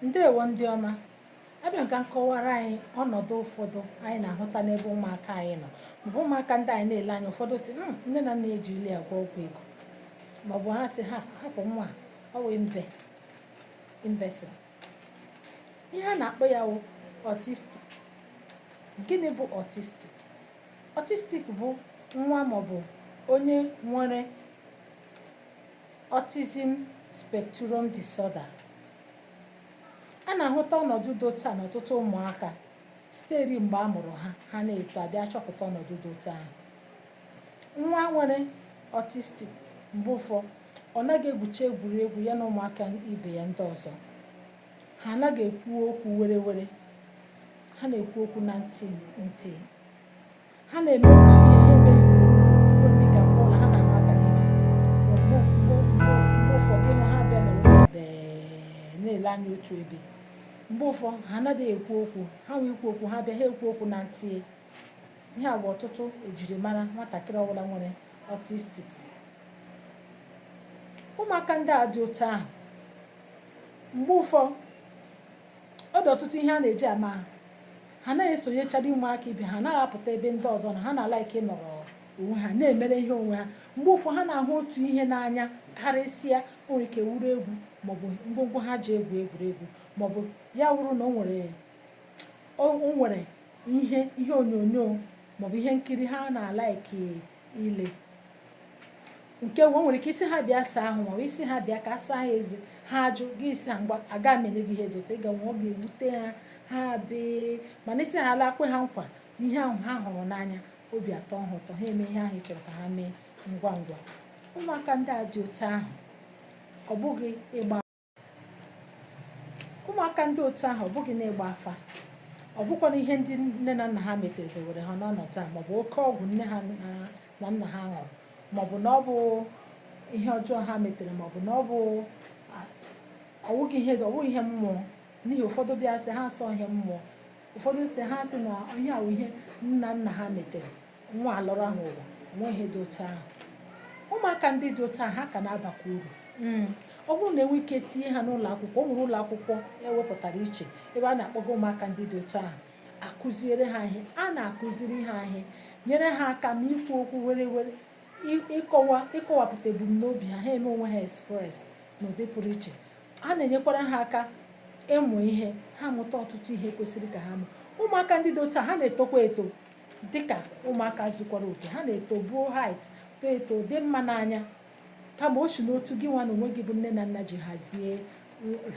ndeewo ndị ọma abịa m ka m kọwara anyị ọnọdụ ụfọdụ anyị na-ahụta n'ebe ụmụaka anyị nọ maọbụ ụmụaka ndị anyị na-ele anya ụfọdụ sị "Mm, nne na nna ejirila ya gwọọ ọgwụ ego maọbụ ha sị ha hapụ nwa a, ọ wee imbe imbecile ihe a na-akpọ ya wụ autistic gịnị bụ autistic autistic bụ nwa maọbụ onye nwere Autism Spectrum Disorder. A na-ahụta ọnọdụ dị otu a n'ọtụtụ ụmụaka siteri mgbe a mụrụ ha ha na-eto a bịa chọpụta ọnọdụ dị otu ahụ nwa nwere autistic mgbe ụfọ ọ naghị egwucha egwuregwu ya na ụmụaka ibe ya ndị ọzọ ha anaghị ekwu okwu were were ha na-ekwu okwu na ntị ntị ha na-eme otu ihe ha emee ya ugboro ugboro dịka mgbe ụfọ ha na-ahụ aka n'ihu mgbe mgbe mgbe mgbe ụfọdụ ị hụ ha abịa nọ otu ebe na-ele anya otu ebe mgbe ụfọdụ ha anaghị ekwu okwu ha nwee ikwu okwu ha bịa ha ekwu okwu na ntị ihe a bụ ọtụtụ ejirimara nwatakịrị ọbụla nwere autistic ụmụaka ndị a dị otu ahụ mgbe ụfọ Ọ dị ọtụtụ ihe a na-eji ama ha. Ha anaghị esonyechali ụmụaka ibe ha, ha anaghị apụta ebe ndị ọzọ nọ, ha na-alike ịnọrọ onwe ha, na-emere ihe onwe ha. Mgbe ụfọdụ, ha na-ahụ otu ihe n'anya karịsịa. O nwere ike wụrụ egwu maọbụ ngwongwo ha ji egwu egwuregwu maọbụ ya wụrụ na o nwere o o nwere ihe ihe onyonyo maọbụ ihe nkiri ha na-alike ile. nke nwe o nwere ike ị sị ha bịa saa ahụ ma ọ bụ ị sị ha bịa ka a saa ha eze ha ajụ gị ị sị ha ngwa aga m enye gị ihe dị otu a ịga nwa ọ ga-ewute ha ha bee mana ị sị ha la kwe ha nkwa ihe ahụ ha hụrụ n'anya obi atọ ha ụtọ ha eme ihe ahụ ị chọrọ ka ha mee ngwa ngwa ụmụaka ndị a dị otu ahụ ọ bụghị ịgba ụmụaka ndị otu ahụ ọ bụghị na ịgba afa ọ bụkwanụ ihe ndị nne na nna ha metere dewere ha n'ọnọdụ a maọbụ oke ọgwụ nne ha na nna ha ṅụrụ maọbụ na ọ bụ ihe ọjọọ ha metere maọbụ na ọ bụ ọ wụghị ihe ọ wụghị ihe mmụọ n'ihi ụfọdụ bịa sị ha asị ọ ihe mmụọ ụfọdụ sị ha sị na ihe a wụ ihe nna nna ha metere nwa a lọrọ ahụ ụwa o nweghị ihe dị otu ahụ ụmụaka ndị dị otu ahụ ha ka na-abakwa uru hmm. ọ bụrụ na e nwee ike tinye ha n'ụlọ akwụkwọ o nwere ụlọ akwụkwọ e wepụtara iche ebe a na-akpọga ụmụaka ndị dị otu ahụ a kụziere ha ihe a na-akụziri ha ihe nyere ha aka ma ikwu okwu were were ịkọwa ịkọwapụta ebumnobi ha ha eme onwe ha express n'ụdị pụrụ iche a na-enyekwara ha aka ịmụ ihe ha mụta ọtụtụ ihe kwesịrị ka ha mụ ụmụaka ndị dị otu a ha na-etokwa eto dịka ụmụaka zukwara oke ha na-eto buo height too eto dị mma n'anya kama o si n'otu gị nwa na onwe gị bụ nne na nna ji hazie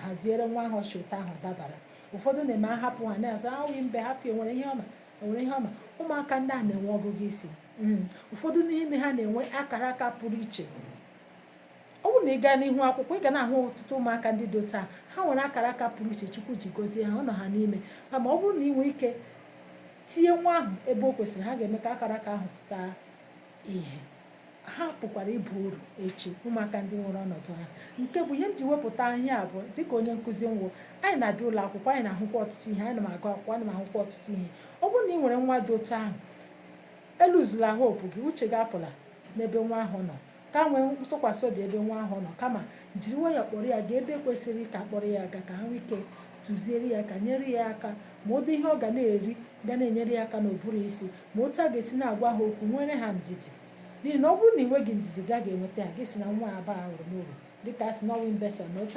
haziere nwa ahụ ọchị ụtọ ahụ dabara ụfọdụ na-eme a hapụ ha na-asị ha wụ imbe hapụ enwere ihe ọma enwere ihe ọma ụmụaka ndị a na-enwe ọgụgụ isi hmm. ụfọdụ n'ime ha na-enwe akara aka pụrụ iche ọ bụrụ na ị gaa n'ụlọ akwụkwọ ị ga na-ahụ ọtụtụ ụmụaka ndị dị otu a ha nwere akara aka pụrụ iche chukwu ji gọzie ha ọ nọ ha n'ime kama ọ bụrụ na ị nwee ike tinye nwa ahụ ebe o kwesịrị ha ga-eme ka akara aka ahụ pụta ihe ha pụkwara ịbụ uru echi ụmụaka ndị nwere ọnọdụ ahụ nke bụ ihe m ji wepụta ihe a bụ dịka onye nkụzi m wụ anyị na-abịa ụlọ akwụkwọ anyị na-ahụkwa ọtụtụ ihe anyị na-agụ akwụkwọ anyị na-ahụkwa ọtụtụ ihe ọ bụrụ na ị nwere nwa dị otu ahụ eluzula hope gị uche gị apụla n'ebe nwa ahụ nọ ka nwee ntụkwasị obi ebe nwa ahụ nọ kama jiri nwayọọ kpọrọ ya gaa ebe e kwesịrị ka a kpọrọ ya gaa ka ha nwee ike tụziere ya ka nyere ya aka ma ụdị ihe ọ ga na-eri ga na-enyere ya aka n'ụbụrụ isi ma otu a ga-esi na-agwa ha okwu nwere ha ndidi n'ihi na ọ bụrụ na ị nweghị ndidi ị gaghị enweta ha gị sị na nwa a abahụ uru mọbụ dịka a sị na ọ wụ imbecile na otu